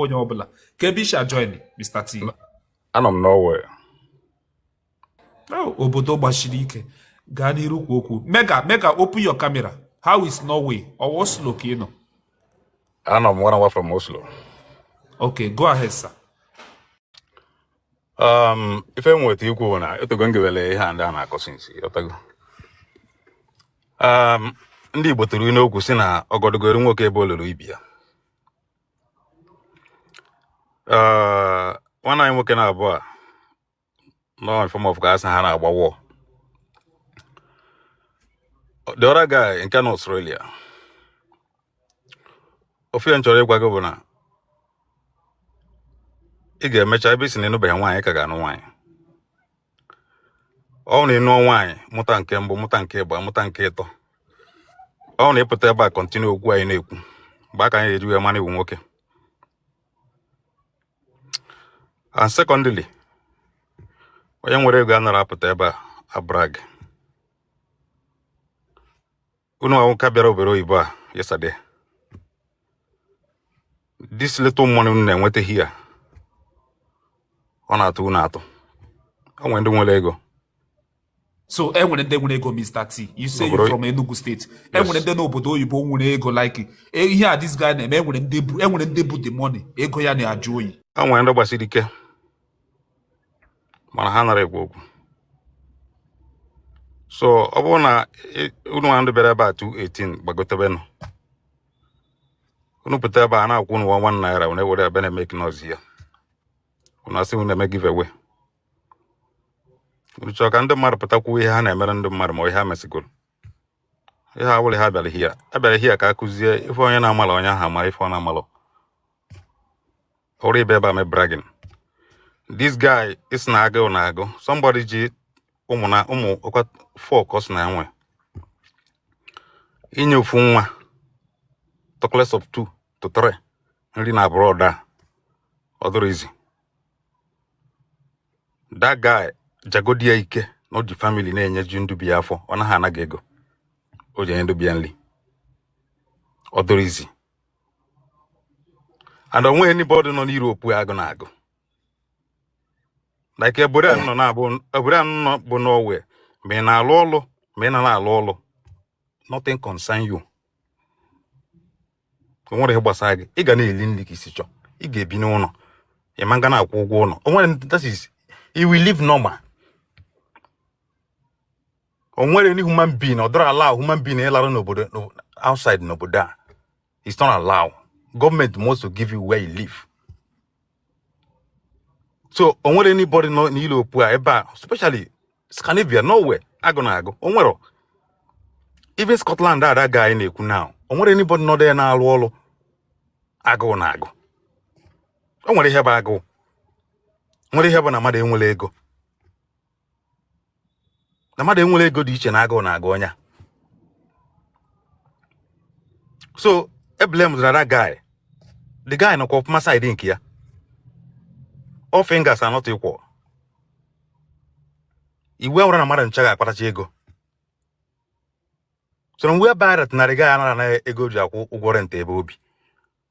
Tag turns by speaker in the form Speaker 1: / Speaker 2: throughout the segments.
Speaker 1: onye ọbụla ka ebe isha join Mr. T anọ m Norway oh, obodo gbasiri ike gaa n'iru kwuo okwu mega mega open your camera how is Norway or Oslo ka ị nọ anọ m one hour from Oslo okay go ahead sir um ife nweta ikwu bụ na e tego m gewele ihe a ndị a na-akọ since o tego um ndị Igbo tụrụ n'okwu sị na ọgọdọgoro nwoke ebe olulu ibi ya Eh, nwanne anyị nwoke na abụa nọ in form of ka a sị ha na-agba wọ the other guy nke nọ Australia ofu ihe m chọrọ ịgwa gị bụ na ị ga-emecha ebe ị sị na ị nụbeghị nwaanyị ị ka ga-anụ nwaanyị ọ wụ na ị nụọ nwaanyị mụta nke mbụ mụta nke ịbụa mụta nke ịtọ ọ wụ na ị pụta ebe a continue okwu anyị na-ekwu mgbe a ka anyị ji wee ma na ị wụ nwoke and secondly onye nwere ego anara apụta ebe a abrag unu nwa wụ ka bịara obodo oyibo a yesterday this little money unu na-enweta here ọ na-atụ unu atụ o nwere ndị nwere ego so e nwere ndị nwere ego Mr. T you say you from Enugu State e nwere ndị n'obodo oyibo nwere ego like e, ihe a this guy na-eme e nwere ndị bu e nwere ndị bu the money ego ya na-ajụ oyi e nwere ndị gbasiri ike mana ha anara ekwu okwu so ọ bụrụ na unu nwa ndị bịara ebe a 218 gbagotebenụ unu pụta ebe a na-akwụ unu nwa naira wee were ebe na-eme kinọzi ya unu asị unu na-eme giveaway unu chọọ ka ndị mmadụ pụta kwuo ihe ha na-emere ndị mmadụ ma ihe ha mesịgoro ihe a wụrụ ha bịara here a bịara here ka a kụzie ife onye na-amalọ onye ahụ amara ife ọ na-amalọ ọ bụrọ ịbịa ebe a eme bragging this guy ị sị na agụụ na-agụ somebody ji ụmụ na ụmụ ọkwa four ka ọ sị na e nwe inye ofu nwa talkless of two to three nri na abroad ọ dịrọ easy that guy jagodi ya ike na o ji family na-enyeju ndị be ya afọ ọ naghị ana gị ego o ji enye ndị be ya nri ọ dịrọ easy and o nweghị anybody nọ n'Europe agụụ na-agụ like obodo a nọ na-abụ obodo a nọ bụ Norway ma ị na-alụ ọlụ ma ị na na-alụ ọlụ nothing concern you o nwerọ ihe gbasara gị ị ga na-eli nri ka i si chọọ ị ga-ebi n'ụnọ ị ma ga na-akwụ ụgwọ ụnọ o nwerọ that is you will live normal o nwere any human being ọ dọrọ allow human being ịlarụ n'obodo n'o- outside n'obodo a it's not allow gọọmenti must to give you where you live so o nwere anybody nọ na Europe a ebe a especially Scandinavia Norway agụụ na-agụ o nwere even Scotland a that guy na-ekwu now o nwere anybody nọ there na-alụ ọlụ agụụ na-agụ o nwere ihe bụ agụụ nwere ihe bụ na mmadụ enwerọ ego na mmadụ enwerọ ego dị iche na agụụ na-agụ onye a so eblamezina that guy the guy nọkwa ọfụma side nke ya all fingers are not equal ihe awụrọ na mmadụ ncha ga-akpatacha ego so na mgbe ebe a retinarị ya na-ahụ ego ji akwụ ụgwọ rent ebe o bi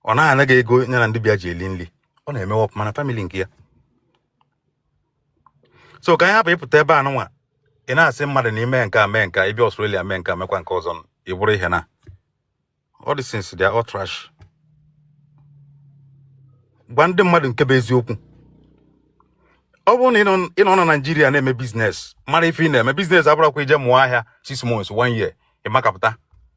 Speaker 1: ọ naghị anaghị ego ya na ndị be ya ji eli nri ọ na-emewe ọfụma na famili nke ya so ka anyị hapụ ịpụta ebe a nụnwa ị na-asị mmadụ na i mee nke a mee nke ị bịa Australia mee nke mekwa nke ọzọ ị bụrụ ihe na all these things they are all trash gwa ndị mmadụ nke bụ eziokwu ọ bụrụ na ị nọ na Naịjirịa na-eme biznes mara ife ị na-eme biznes abụrọkwa ije mụọ ahịa six months one year ịmakapụta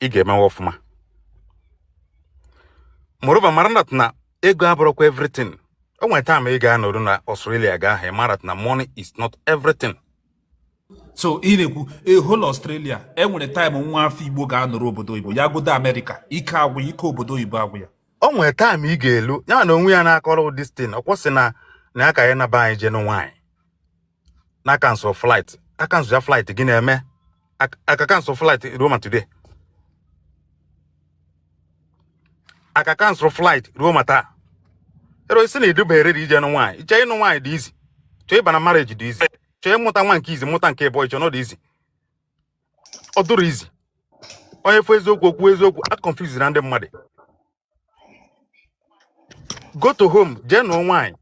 Speaker 1: ị ga-emewe ọfụma moreover mara that na ego abụrọkwa everything o nwere time ị ga-anọru na Australia gị amara na money is not everything so ị na-ekwu ehol Australia e nwere time nwa afọ Igbo ga-anọru obodo oyibo ya godu Amerịka ike agwụ ya ike obodo oyibo agwụ ya o nwere time ị ga-elu ya na onwe ya na-akọrọ this thing o kwuo sị na na ya ka ya naa be anyị jee nụọ nwaanyị na a cancel flight a cancel ya flight gịnị mee a ka cancel flight ruo ma today a ka cancel flight ruo ma taa i rozi na ị dịbe ready ije nụ nwaanyị i che ịnụ nwaanyị dị easy i che ịba na marriage dị easy i che ịmụta nwa nke izi mụta nke ịbụọ i che na ọ dụ easy ọ dụrọ easy onye fụ eziokwu o kwuo eziokwu aconfusena ndị mmadụ go to home jee nụọ nwaanyị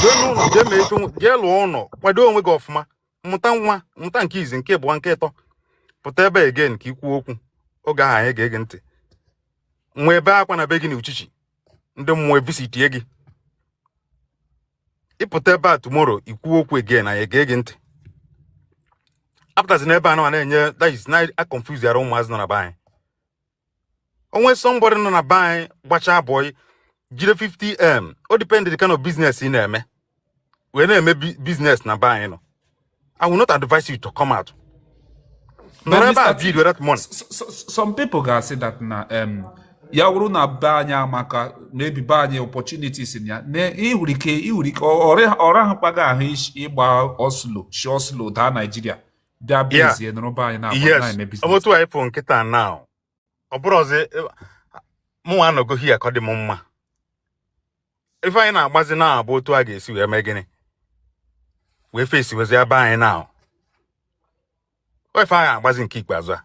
Speaker 1: jee n'ụlọ jee mee ife nwa- jee lụọ ụlọ kwado onwe gị ọfụma mụta nwa mụta nke izi nke abụọ nke ịtọ pụta ebe a again ka i kwuo okwu oge ahụ anyị ga-ege ntị nwa ebe akwa na be gị na uchichi ndị mmụọ visitie gị ị pụta ebe a tomorrow i kwuo okwu again anyị ga-ege ntị apụtazina ebe a na na-enye that is na-aconfuse yara ụmụazị nọ na be anyị o nwee somebody nọ na be anyị gbachaa bọị jiri 50m ọ depend the kind of business ị na-eme wee na-eme business na be anyị no I will not advise you to come out nọrọ ebe a build with that money some people ga-asị that na um, ya wụrụ na be anyị amaka maybe be anyị opportunities ya na ịhụrụ ike ịhụrụ ike ọra ahụ kpaga ahụ ị gbaa ọsọ shi Oslo daa Naịjirịa bịa bụ Yeah. ezie nọrọ be anyị na-agba Yes. na-eme ọ bụ biznes otu anyị pụ kịta na ọ bụrụ ọzọ mụnwa anọgo hia ka ọ dị m mma ife anyị na-agbazi now bụ otu a ga-esi wee mee gịnị wee fesiwezie be anyị na ife anyị na-agbazi nke ikpeazụ a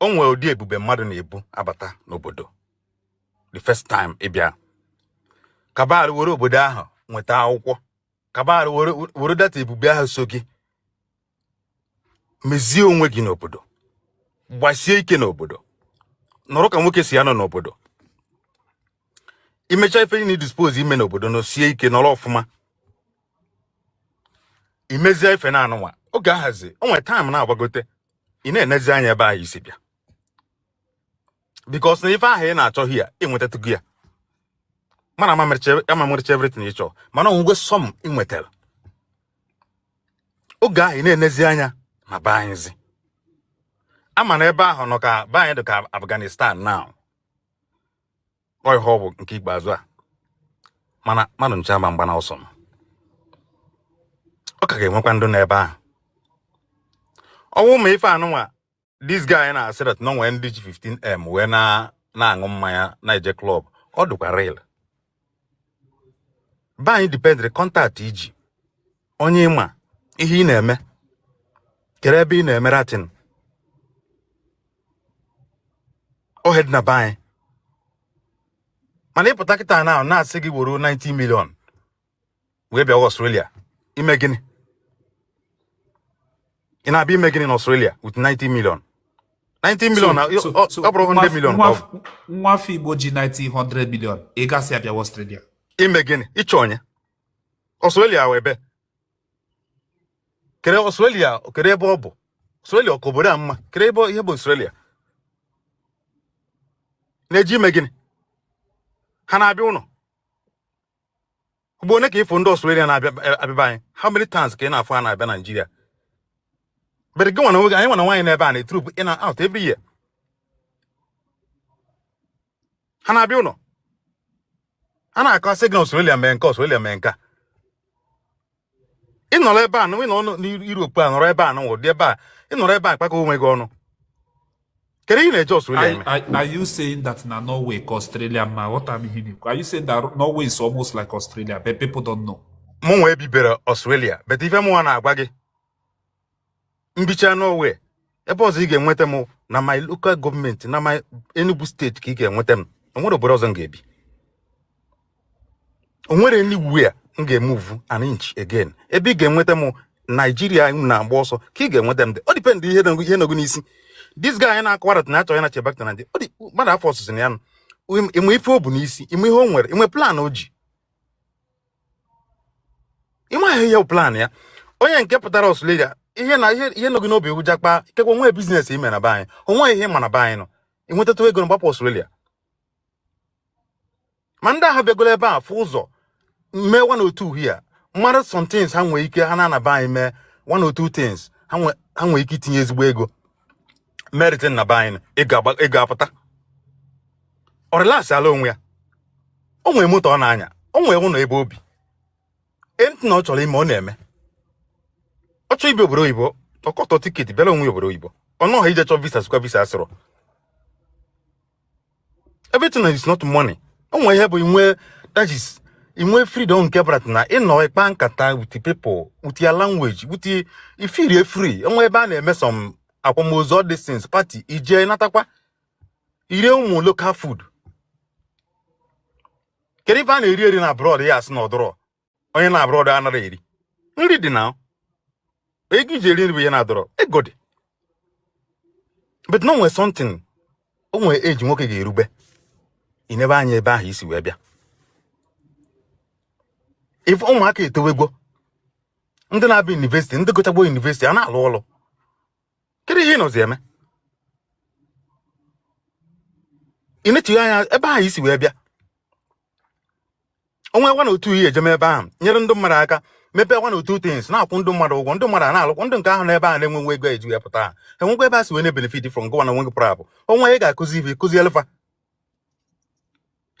Speaker 1: o nwere ụdị ebube mmadụ na-ebu abata n'obodo the first time ị bịa kabar were obodo ahụ nweta akwụkwọ kabar were data ebube ahụ so gị mezie onwe gị n'obodo gbasie ike n'obodo nọrọ ka nwoke si anọ n'obodo ị mecha ife niile ị suppose ime n'obodo nọsie ike nọrọ ọfụma ị mezie ife na anụnwa oge ahụzi o nwere time na-agbagote ị na-enezi anya ebe ahụ i si bịa because na ife ahụ ị na-achọ hia ị nwetatụgo ya mana ama mmerecha everything ị chọọ mana o nwego some ị nwetara oge ahụ ị na-enezi anya na be anyịzi a ma na ebe ahụ nke be anyị dị ka Afghanistan now ọ ihe ọ bụ nke ikpeazụ a mana mmadụ ncha ama agbana ọsọ ma ọ ka ga-enwekwa ndị nọ ebe ahụ ọ bụ ma ife anụnwa this guy na-asị that na e nwee ndị ji 15m wee na-aṅụ mmanya na-eje club ọ dịkwa real be anyị dependịrị contact i ji onye ị ma ihe ị na-eme kedu ebe ị na-eme ratin ọ ihe dị na be anyị mana ị pụta kịta na a na-asị gị woro 90 million wee bịa Australia ime gịnị ị na-abịa ime gịnị na Australia with 90 million 90 million ọ bụrụ 100 million nwa afọ Igbo ji 900 million ị ga-asị abịa Australia ime gịnị ịchọ onye Australia ebe kedu Australia kedu ebe ọ bụ Australia ọ ka obodo a mma kedu ebe ihe bụ Australia na-eje ime gịnị ha na-abịa ụlọ ugbo one ka ị fụ ndị Australia na-abịa e, abịa be anyị how many times ka ị na-afụ ha na-abịa Nigeria but gị nwana nwoke anyị nwana nwaanyị n'ebe a na-troop in and out every year ha na-abịa ụlọ a na-akọ asị gị na Australia mee nke a Australia mee nke a ị nọrọ ebe a ị nọrọ n'Europe a nọrọ ebe a nọrọdị ebe a ị nọrọ ebe a kpakọ onwe gị ọnụ kedu ihe ị na-eje Australia eme are you saying that na Norway ka Australia mma ghọta m ihe m na-ekwu are you saying that Norway is almost like Australia but people don't know mụnwa ebibero Australia but ife mụnwa na-agwa gị m bichaa n'o nwe ebe ọzọ ị ga-enweta m na my local gọọmenti na my Enugu steeti ka ị ga-enweta m o nwere obodo ọzọ m ga-ebi o nwere anywhere m ga-emuvu an inch again ebe ị ga-enweta m naijiria na-agba ọsọ ka ị ga-enweta m dị ọ dipendị ihe ihe nọ gị n'isi dis guy na-akọwara na achọ ya na je back na naijiria ọ dị mmadụ afọ ọsụsụ na ya nụ ị ma ife o bu n'isi ị ma ihe o nwere i nwe plan o ji ịmaghị ihe plan ya onye nke pụtara Australia ihe na ihe nọ gị n'obi wụ jakpa ikekwe nwee biznes i me na be anyị o nwe ihe ị ma na be anyị na i nwetatụ ego na gbapụ Australia ma ndị ahụ bịagoro ebe a fụ ụzọ mee one or two here mara some things ha nwee ike ha naa na be anyị mee one or two things ha nwee ike itinye ezigbo ego meritin na be anyị ị ga-agba- ị ga-apụta ọ relax ala onwe ya o nwere moto ọ na-anya o nwere ụlọ ebe o bi anything ọ chọrọ ime ọ na-eme ọ chọọ ịbịa obodo oyibo ọ kọtọ tiketi bịara onwe ya obodo oyibo ọ nọghị ije chọọ visa sịkwa visa asịrọ everything is not money o nwere ihe bụ inwe that is inwe freedom nke bụrụ na ị nọ ị kpaa nkata with people with your language with ị feelie free o nwe ebe a na-eme some akwamozu all these things party i je natakwa i rie ụmụ local food kedu ife a na-eri eri na abroad ya asị na ọ dịrọ onye nọ abroad a na- eri nri dị na ego iji eri nri bụ ihe na-adịrọ ego dị but na nwere something o nwere age nwoke ga-erube i nebe anya ebe ahụ i si wee bịa ị fụ ụmụaka etowego ndị na-abịa yunivesiti ndị gụchago yunivesiti a na-alụ ọlụ kedu ihe ị nọzi eme ị nechighị anya ebe ahụ i si wee bịa o nwe one or two ihe i je eme ebe ahụ nyere ndị mmadụ aka mepee one or two things na-akwụ ndị mmadụ ụgwọ ndị mmadụ a na-alụkwụ ndị nke ahụ n'ebe ahụ na-enwe nwe ego eji ya pụta ha enwekwa ebe a si wee na-ebenefit from gịwa na onwe gị pụrụ apụ onwe ị ga-akụzi ibe kụzi elefa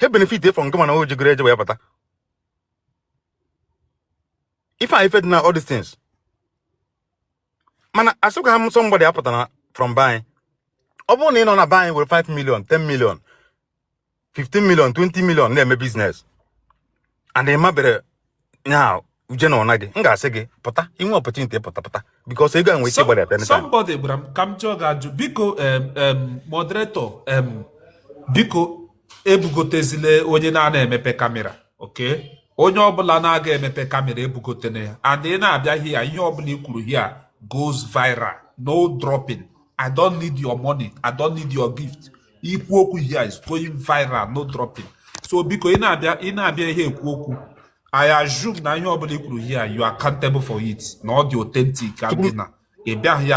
Speaker 1: he benefit from gịwa na o jigoro eje wee pụta ife a ife dị na all these things mana asịkwa ha nsọ mgbada ya pụtara from be anyị ọ bụrụ na ị nọ na be anyị were 5 million 10 million 15 million 20 million na-eme biznes and ị mabere nya uje na ọna gị m ga-asị gị pụta i nwe opportunity pụta pụta bikos ego enwe ike gbara ebe somebody gwara m ka m chọọ ga ajụ biko moderator biko ebugotezile onye na-ana emepe kamera okay onye ọbụla na-aga emepe kamera ebugotene ya and ị na-abịa hia ihe ọbụla i kwuru hia goes viral no dropping i don't need your money i don't need your gift ikwu okwu here is going viral no dropping so biko ị na-abịa ị na-abịa here ekwu okwu I assume na ihe ọbụla i kwuru here you are accountable for it na ọ dị authentic and na ị bịaghị here